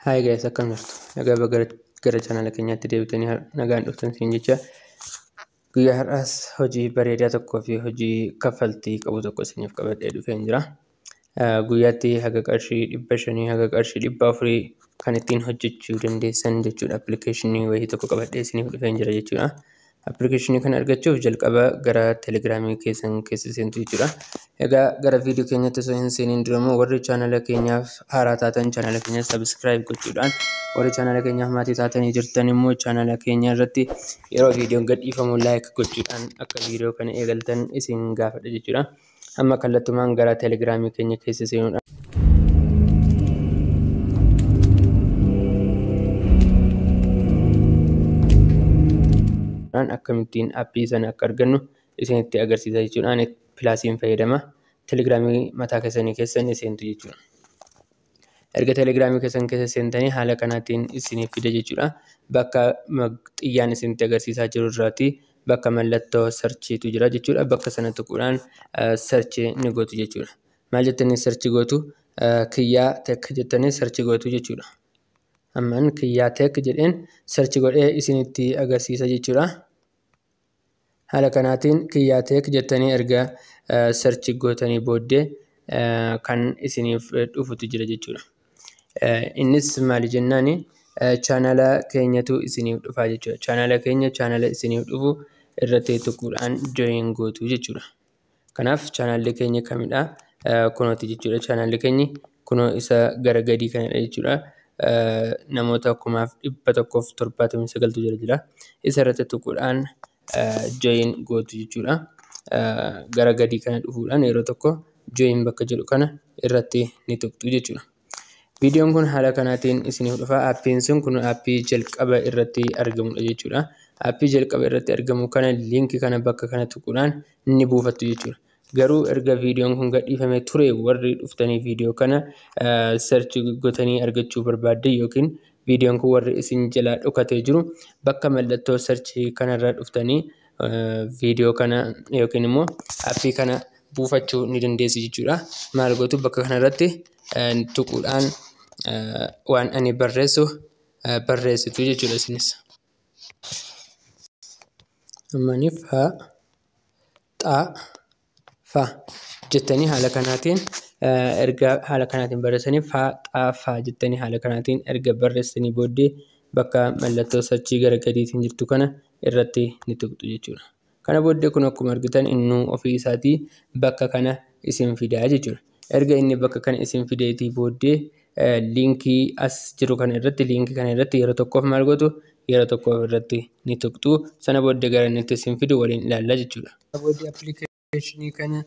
Hi guys akkam jirtu nagaa baga gara chaanala keenyaatti deebitanii har- nagaan dhuftan siin jecha guyyaa har'aas hojii bareedaa tokkoo fi hojii kaffaltii qabu tokko isiniif qabadhee dhufeen jira. Eh, Guyyaatti haga qarshii dhibba shanii haga qarshii dhibba afurii kan ittiin hojjechuu dandeessan jechuudha appilikeeshinii wayii tokko qabadhee isiniif dhufeen jira jechuudha. Appilikeeshinii kana argachuuf jalqaba gara telegiraamii keessan keessa seentu jechuudha. Egaa gara viidiyoo keenyatti osoo hin seeniin dura immoo warri chaanala keenyaaf haaraa taatan chaanala keenya sabiskiraayib gochuudhaan warri chaanala keenyaaf maatii taatanii jirtan immoo chaanala keenya irratti yeroo viidiyoon gadhiifamu laayik gochuudhaan akka viidiyoo kana eegaltan isin gaafadha jechuudha. Amma kallattumaan gara telegiraamii keenya keessa seenuudhaan. akkamittiin appii sana akka argannu isinitti agarsiisa jechuudhaan pilaasiin fayyadama telegiraamii mataa keessanii keessan seentu jechuudha. Erga telegiraamii keessan keessa seentanii haala kanaatiin isiniif fida jechuudha. Bakka xiyyaan isinitti agarsiisaa jiru irraati bakka mallattoo sarchiitu jira jechuudha. Bakka sana tuquudhaan sarchii ni gootu jechuudha. Maal jettanii sarchii gootu? Kiyyaa tek jettanii sarchii gootu jechuudha. Amman kiyyaa tek jedheen sarchii godhee isinitti agarsiisa jechuudha. Haala kanaatiin kiyyaa tech jettanii erga search gootanii booddee kan isiniif dhufutu jira jechuudha. Innis maali jennaan chaanala keenyatu isiniif dhufaa jechuudha. Chaanala keenya chaanala isiniif dhufu irratti tuquudhaan join gootu jechuudha. Kanaaf chaanaalli keenya kamidha? Kunooti jechuudha chaanaalli keenya. Kunoo isa gara gadii kanadha jechuudha. Namoota kumaaf dhibba tokkoof torbaatamii sagaltu jala jira. Isa irratti tuquudhaan join gootu jechuudha. Gara gadii kana dhufuudhaan yeroo tokko join bakka jedhu kana irratti ni tuqxu jechuudha. Viidiyoon kun haala kanaatiin isiniif dhufa. Appiin sun kun appii jalqaba irratti argamudha jechuudha. Appii jalqaba irratti argamu kana liinki kana bakka kana tuquudhaan ni buufattu jechuudha. Garuu erga viidiyoon kun gadhiifame ture warri dhuftanii viidiyoo kana search gotanii argachuu barbaaddan yookiin viidiyoon kun warri isin jalaa dhokatee jiru bakka mallattoo search kanarra dhuftanii viidiyoo kana yookiin immoo appii kana buufachuu ni dandeessi jechuudha. Maal gootu bakka kanarratti tuquudhaan waan ani barreessu barreessitu jechuudha isinis. Ammaniif haa xaa. fa jettanii haala kanaatiin erga haala kanaatiin barreessanii fa xa fa jettanii haala kanaatiin erga barreessanii booddee bakka mallattoo sachii gara gadiitiin jirtu kana irratti ni tuqxu jechuudha. Kana booddee kun akkuma argitan innuu ofii isaatii bakka kana isin fidaa jechuudha. Erga inni bakka kana isin fideetii booddee liinkii as jiru kana irratti liinkii kana irratti yeroo tokkoof maal gootu yeroo tokkoof irratti ni tuqxu sana booddee gara inni itti isin fidu waliin ilaalla jechuudha. Sana booddee appilikeeshinii kana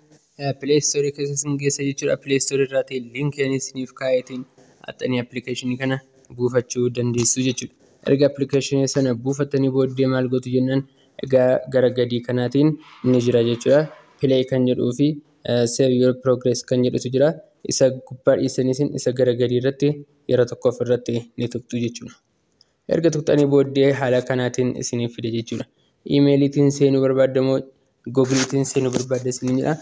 pilee istoorii keessa isin geessa jechuudha. Pilee istoorii irraatii liinkii ani isiniif kaa'eetiin haxxanii appilikeeshinii kana buufachuu dandeessu jechuudha. Erga appilikeeshinii sana buufattanii booddee maal gootu jennaan egaa gara gadii kanaatiin ni jira jechuudha. Pilee kan jedhuu fi save your progress kan jedhutu jira isa gubbaa dhiisaniisin isa gara gadii irratti yeroo tokkoof irratti ni tuqxu jechuudha erga tuqxanii booddee haala kanaatiin isiniif fide jechuudha imeeliitiin seenuu barbaaddamoo googiliitiin seenuu barbaadda isin jedha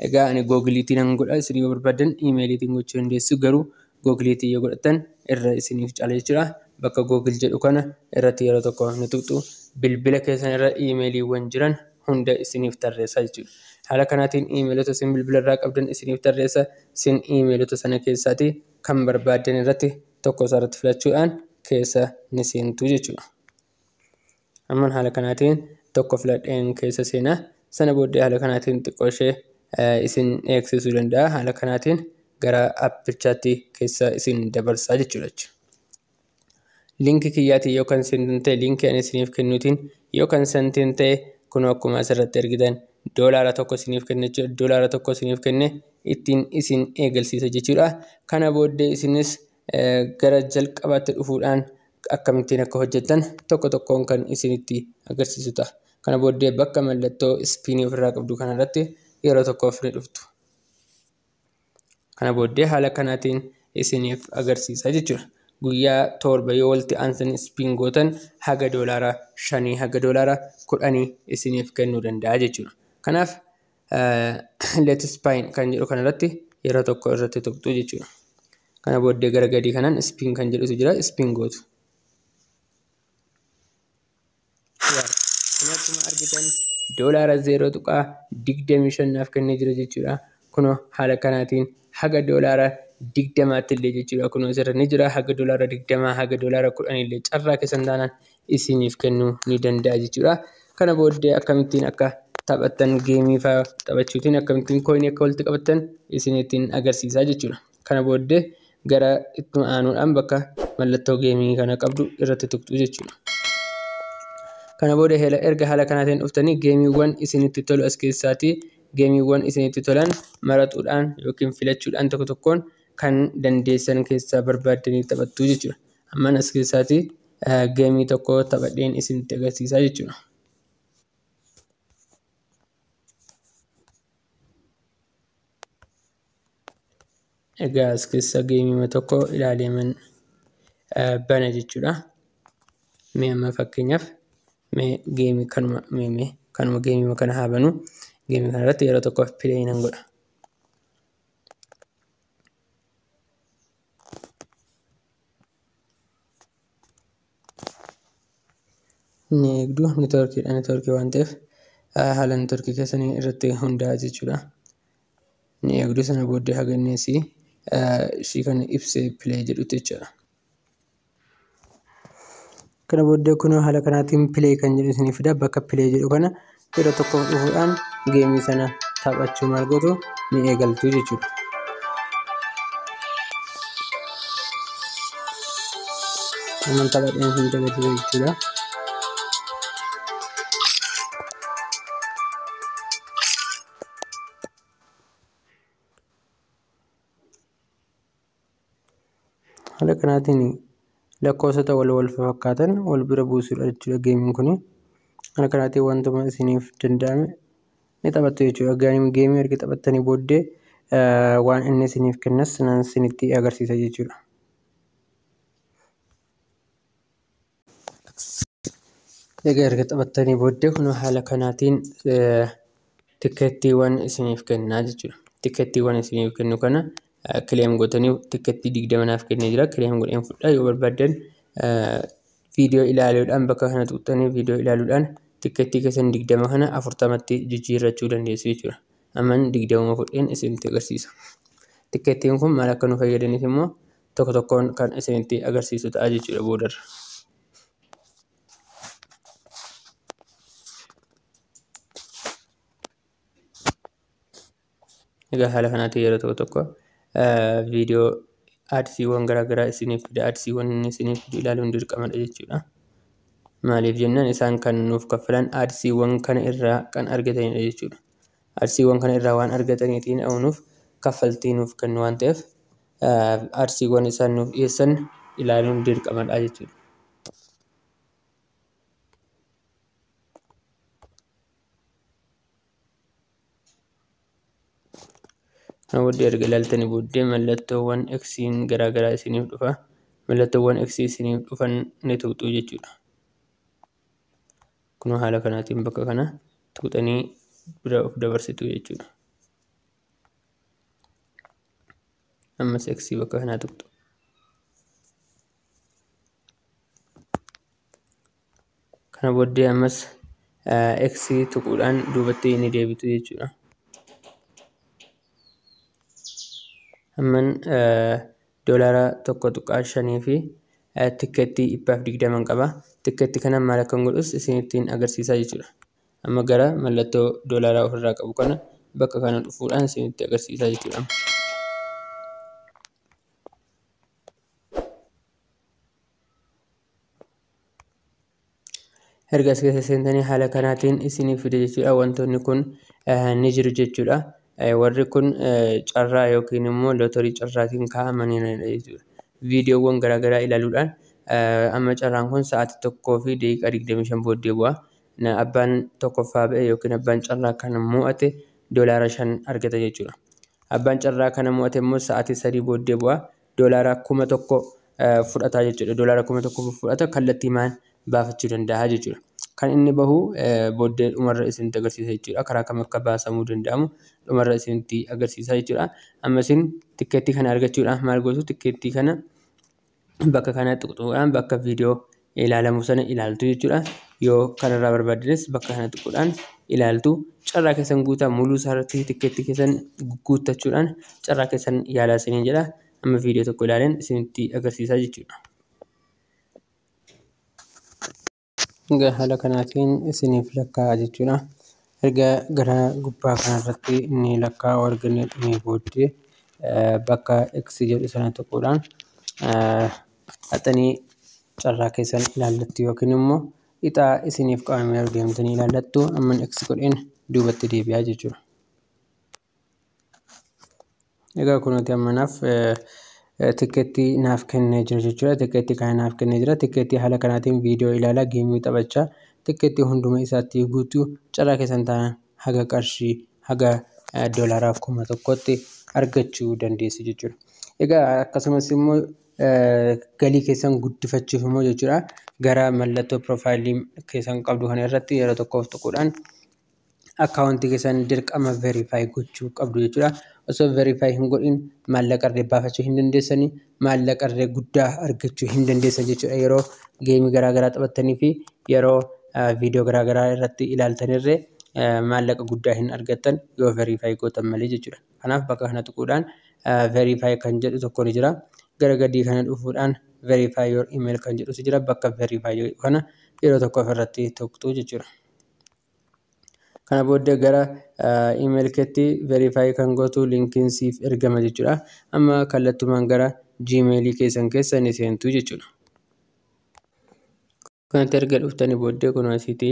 egaa ani googiliitiin an godha isin yoo barbaadan imeeliitiin gochuu dandeessu garuu Google tiin yoo godhattan irra isiniif cala jechuudha. Bakka Google jedhu kana irratti yeroo tokko ni tuqxu. Bilbila keessan irra iimeeliiwwan jiran hunda isiniif tarreessa jechuudha. Haala kanaatiin iimeelota isin bilbila irraa qabdan isiniif tarreessa. Isin iimeelota sana keessaati kan barbaaddan irratti tokko isaarratti filachuudhaan keessa ni seentu jechuudha. Amman haala kanaatiin tokko filadheen keessa seena. Sana booddee haala kanaatiin xiqqoo ishee isin eegsisuu danda'a. Haala kanaatiin gara appichaatti keessa isin dabarsaa jechuudha. Linkii kiyyaatiin yoo kan seentan ta'e linkii ani isiniif kennuutiin yoo kan seentan ta'e kunoo akkuma asirratti argitan doolaara tokko isiniif kenne doolaara tokko isiniif kenne ittiin isin eegalsiisa jechuudha. Kana booddee isinis gara jalqabaatti dhufuudhaan akkamittiin akka hojjettan tokko tokkoon kan isinitti agarsiisu ta'a. Kana booddee bakka mallattoo ispiinii ofirraa qabdu kanarratti yeroo tokkoof ni dhuftu. Kana booddee haala kanaatiin isiniif agarsiisa jechuudha. Guyyaa torba yoo walitti aansan ispiin gootan haga doolaara shanii haga doolaara kudhanii isiniif kennuu danda'a jechuudha. Kanaaf let spine kan jedhu kana irratti yeroo tokko irratti tuqxu jechuudha. Kana booddee gara gadii kanaan spin kan jedhutu jira spin gootu. Kun akkuma argitan doolaara zeeroo tuqaa digdamii shan naaf kennee jira jechuudha. Kunoo haala kanaatiin haga doolaara digdamaatti illee jechuudha. Kunoo asirra ni jira haga doolaara digdamaa haga doolaara kudhanii illee carraa keessan taanaan isiniif kennuu ni danda'a jechuudha. Kana booddee akkamittiin akka taphattan geemii fa'aa taphachuutiin akkamittiin kooyinii akka walitti qabattan isiniittiin agarsiisaa jechuudha. Kana booddee gara itti aanuudhaan bakka mallattoo geemii kana qabdu irratti tuqxu jechuudha. Kana booda erga haala kanaatiin dhuftanii geemiiwwan isinitti tolu as keessaatii geemiiwwan isinitti tolan maraxuudhaan yookiin filachuudhaan tokko tokkoon kan dandeessan keessaa barbaaddanii taphattu jechuudha. Amman as keessaatii geemii tokko taphadheen isinitti agarsiisaa jechuudha. Egaa as keessa geemii tokko ilaaleeman bana jechuudha. Mee amma fakkeenyaaf mee geemii kanuma mee mee kanuma geemii kana haa banu. Geemii kana irratti yeroo tokkoof pileeyi nan godha. ni eegdu networkiidha networkii waan ta'eef haala networkii keessanii irratti hundaa'a jechuudha ni eegdu sana booddee haganneessi ishii kana ibsee pilee jedhutti jechuudha. kana booddee kunoo haala kanaatiin pilee kan jedhu isinii fida bakka pilee jedhu kana yeroo tokko dhufuudhaan geemii sana taphachuu maal gootu ni eegaltu jechuudha. Aman taphadheen hin dabalatu jechuudha. Haala kanaatiin lakkoofsota wal wal fakkaatan wal bira buusuudha jechuudha geemiin kun. Haala kanaatiin wantuma isiniif danda'ame ni taphattu jechuudha. Geemii erga taphattanii booddee waan inni isiniif kennas isinitti agarsiisa jechuudha. Egaa erga taphattanii booddee kunoo haala kanaatiin tikkeettiiwwan isiniif kennaa jechuudha. Tikkeettiiwwan isiniif kennu kana kileem gootanii tikkeettii digdama naaf kennee jira. Kileem godheen fudhaa yoo barbaaddan viidiyoo ilaaluudhaan bakka kana tuqxanii viidiyoo ilaaluudhaan tikkeettii keessan digdama kana afurtamatti jijjiirrachuu dandeessu jechuudha. Amman digdamuma fudheen isinitti agarsiisa. Tikkeettiin kun maal akka nu fayyadaniif immoo tokko tokkoon kan isinitti agarsiisu ta'a jechuudha boodarra. Egaa haala kanaatiin yeroo tokko tokko viidiyoo aadsiiwwan garaagaraa isiniif fida aadsiiwwan inni isiniif fidu ilaaluun dirqamadha jechuudha. Maaliif jennaan isaan kan nuuf kaffalan aadsiiwwan kana irraa kan argatanidha jechuudha. Aadsiiwwan kana irraa waan argataniitiin nuuf kaffaltii nuuf kennu waan ta'eef artiiwwan isaan nuuf dhiyeessan ilaaluun dirqamadha jechuudha. Kana booddee erga ilaaltanii booddee mallattoowwan eksiin garaagaraa isiniif dhufa. Mallattoowwan eksii isiniif dhufan ni tuqxu jechuudha. Kun haala kanaatiin bakka kana tuqxanii bira of dabarsitu jechuudha. ammas x bakka kanaa tuqxu kana booddee ammas x tuquudhaan duubatti ni deebitu jechuudha amman doolaara tokko tuqaa shanii fi tikkeettii dhibbaaf digdaman qaba tikkeetti kana maal akkan godhus isinittiin agarsiisaa jechuudha Amma gara mallattoo doolaaraa ofirraa qabu kana bakka kana dhufuudhaan isinitti agarsiisaa jechuudha. Erga as keessa seentanii haala kanaatiin isiniif fide jechuudha. Wantoonni kun ni jiru jechuudha. Warri kun carraa yookiin immoo lootorii carraatiin kaa'amanii jechuudha. Viidiyoowwan garaagaraa ilaaluudhaan amma carraan kun sa'aatii tokkoo fi daqiiqaa digdamii shan booddee bu'a. na abbaan tokkoffaa ba'e yookiin abbaan carraa kana mo'ate doolaara shan argata jechuudha. Abbaan carraa kana mo'ate immoo sa'aatii sadii booddee bu'a doolaara kuma tokko fudhata jechuudha. Doolaara kuma tokko fudhata kallattii maan baafachuu danda'a jechuudha. Kan inni bahu booddee dhumarra isinitti agarsiisa jechuudha. Karaa kam akka baasamuu danda'amu dhumarra isinitti agarsiisa jechuudha. Amma isin tikkeettii kana argachuudhaaf maal gootu? Tikkeettii kana bakka kana tuquudhaan bakka viidiyoo ilaalamu sana ilaaltu jechuudha. Yoo kanarraa barbaaddes bakka kana tuquudhaan ilaaltu. Carraa keessan guutaa muluu isaarratti tikkeetti keessan guuttachuudhaan carraa keessan yaalaa isiniin jedha. Amma viidiyoo tokko ilaaleen isinitti agarsiisaa jechuudha. Egaa haala kanaatiin isiniif lakkaa'a jechuudha. Erga gara gubbaa kanarratti ni lakkaa'u erga inni dhumee booddee bakka X jedhu sana tuquudhaan haxanii carraa keessan ilaallattu yookiin immoo ixaa isiniif qabame deemtanii ilaallattu. Amman X godheen duubatti deebi'aa jechuudha. Egaa kunuuti amma naaf tikkeetti naaf kennee jira jechuudha. Tikkeetti kana naaf kennee jira. Tikkeetti haala kanaatiin viidiyoo ilaalaa geemii taphachaa tikkeetti hunduma isaatti guutuu carraa keessan taanaan haga qarshii haga doolaaraa kuma tokkotti argachuu dandeessu jechuudha. Egaa akkasumas immoo galii keessan guddifachuuf immoo jechuudha gara mallattoo piroofaayilii keessan qabdu kana irratti yeroo tokkoof tuquudhaan akkaawuntii keessan dirqama verify gochuu qabdu jechuudha. Osoo verify hin godhin maallaqa irree baafachuu hin dandeessanii maallaqa irree guddaa argachuu hin dandeessan jechuudha. Yeroo geemii garaagaraa taphattanii fi yeroo viidiyoo garaagaraa irratti ilaaltan irree maallaqa guddaa hin argattan yoo verify gootan malee jechuudha. Kanaaf bakka kana tuquudhaan verify kan jedhu tokko ni jira. Gara gadii kana dhufuudhaan verify your email kan jedhutu jira. Bakka verify kana yeroo tokko ofirratti tuqxu jechuudha. kana booddee gara email keetti verify kan gootu linkiin siif ergama jechuudha amma kallattumaan gara gmail keessan keessa ni seentu jechuudha kanatti erga dhuftanii booddee kun asitti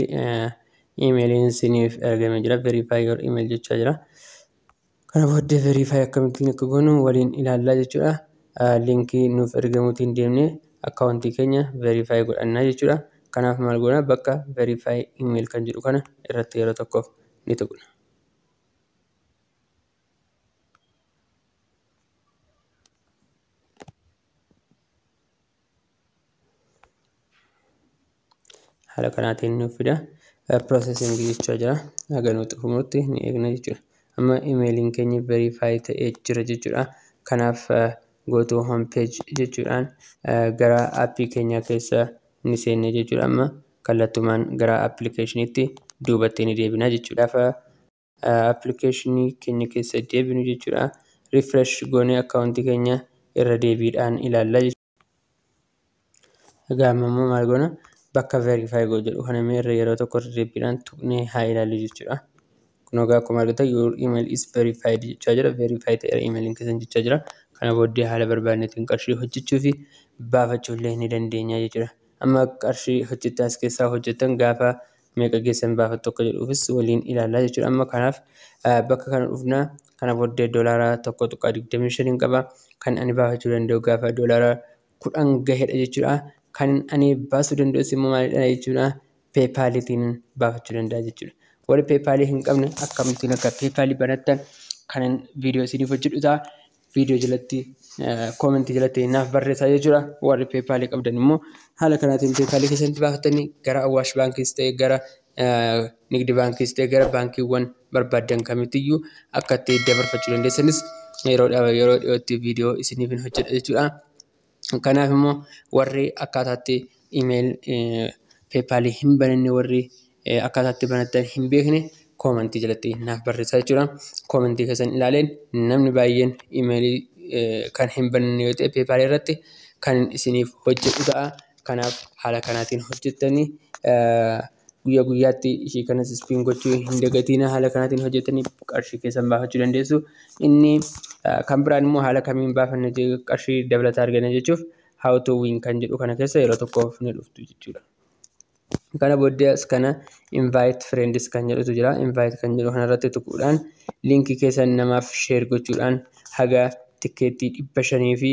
emailiin siniif ergame jira verify your email jechaa jira Kana booddee verify akkamittiin akka goonu waliin ilaallaa jechuudha. Linkii nuuf ergamuutiin deemnee akkaawuntii keenya verify godhannaa jechuudha. Kanaaf maal goona bakka verify email kan jedhu kana irratti yeroo tokkoof ni tuqna. haala kanaatiin nuuf fida processing jechaa jira haga nuuf xumurti ni eegna jechuudha amma imeeliin keenya verify ta'ee jira jechuudha kanaaf go to home page jechuudhaan gara appii keenya keessa ni seenne jechuudha amma kallattumaan gara appilikeeshiniitti duubatti ni deebina jechuudha. appilikeeshinii keenya keessa deebinu jechuudha. Refresh goonee akkaawuntii keenya irra deebiidhaan ilaalla jechuudha. Egaa amma immoo maal goona? Bakka verify go jedhu kana immoo irra yeroo tokko irra deebiidhaan tuqnee haa ilaallu jechuudha. Kun egaa akkuma argitan your email is verified jechaa jira. Verify ta'eera emailiin keessan jechaa jira. Kana booddee haala barbaadnetiin qarshii hojjechuu fi baafachuu illee ni dandeenya jechuudha. Amma qarshii hojjettan as keessaa hojjettan gaafa meeqa geessan baafattu akka jedhuufis waliin ilaallaa jechuudha. Amma kanaaf bakka kana dhufna. Kana booddee doolaara tokko tuqaa digdamii shaniin qaba. Kan ani baafachuu danda'u gaafa doolaara kudhan gahedha jechuudha. Kan ani baasuu danda'us immoo maalidha jechuudha. Peepaaliitiin baafachuu danda'a jechuudha. Warri peepaalii hin qabne akkamittiin akka peepaalii banattan kanan viidiyoo isiniif hojjedhu ta'a. viidiyoo jalatti koomentii jalatti naaf barreessaa jechuudha. Warri peepaalii qabdan immoo haala kanaatiin peepaalii keessanitti baafattanii gara Awwaash baankiis ta'e gara Nigdi baankiis ta'e gara baankiiwwan barbaaddan kamittiyyuu akka itti dabarfachuu dandeessanis yeroo yeroo dhiyootti viidiyoo isiniif hin hojjedha jechuudha. Kanaaf immoo warri akkaataa itti email PayPal hin bananne warri akkaataa itti banatan hin beekne koomantii jalatti naaf barreessaa jechuudha. Koomantii keessan ilaaleen namni baay'een email kan hin bananne yoo ta'e PayPal irratti kan isiniif hojjetu ta'a. Kanaaf haala kanaatiin hojjettanii guyyaa guyyaatti ishii kanas ispiin gochuu hin dagatiina haala kanaatiin hojjetanii qarshii keessan baafachuu dandeessu. Inni kan biraan immoo haala kamiin baafanne qarshii dabalataa argana jechuuf how to win kan jedhu kana keessa yeroo tokkoof ni dhuftu jechuudha. Kana booddee as kana invite friends kan jedhutu jira. Invite kan jedhu kanarratti tuquudhaan liinkii keessan namaaf share gochuudhaan haga tikkeettii dhibba shanii fi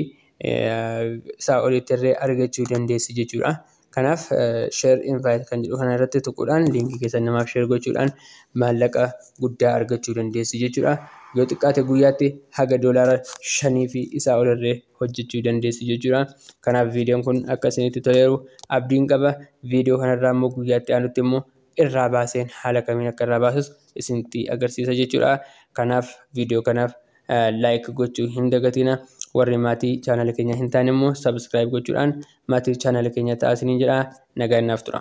isaa olittirree argachuu dandeessu jechuudha. Kanaaf share invite kan jedhu kana irratti tuquudhaan liinkii keessan namaaf share gochuudhaan maallaqa guddaa argachuu dandeessu jechuudha. Yoo xiqqaate guyyaatti haga doolaara shanii fi isaa ol irree hojjechuu dandeessu jechuudha. Kanaaf viidiyoon kun akka isinitti toleeru abdiin qaba. Viidiyoo kanarraa immoo guyyaatti aanutti immoo irraa baaseen haala kamiin akka irraa baasus isinitti agarsiisa jechuudha. Kanaaf viidiyoo kanaaf like gochuu hin dagatina warri maatii chaanala keenya hin taane immoo subscribe gochuudhaan maatii chaanala keenya ta'aa isiniin jedha nagaan naaf tura.